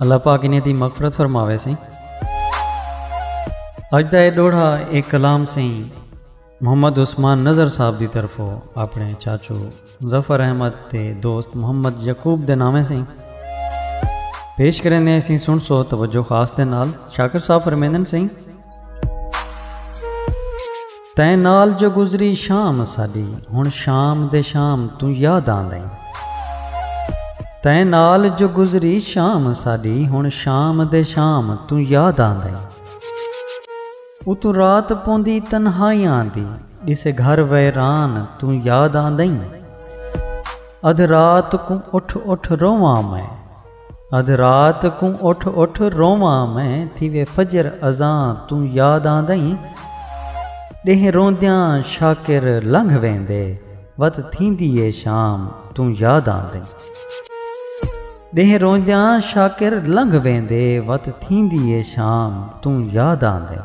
اللہ پاک انہیں دی مغفرت فرماوے سیں اج دا اے ڈوڑھا ایک کلام سیں محمد عثمان نظر صاحب دی طرف ہو اپنے چاچو ظفر احمد تے دوست محمد یقوب دے نامے سیں پیش کریں دے سیں سن سو توجہ خاص دے نال شاکر صاحب فرمیندن سیں تیں نال جو گزری شام اساݙی ہݨ شام دے شام توں یاد آندئیں تیں نال جو گزری شام اساݙی ہݨ شام دے شام توں یاد آندئیں اتوں رات پوندی تنہائیاں دی ݙسے گھر ویران توں یاد آندئیں ادھ رات کوں اٹھ اٹھ روواں میں ادھ رات کوں اٹھ اٹھ روواں میں تھیوے فجر اذاں توں یاد آندئیں ڈینہہ روندیاں شاکر لنگھ ویندے وت تھیندی اے شام توں یاد آندئیں ڈینہہ روندیاں شاکر لنگھ ویندے وت تھیندی اے شام توں یاد آندئیں۔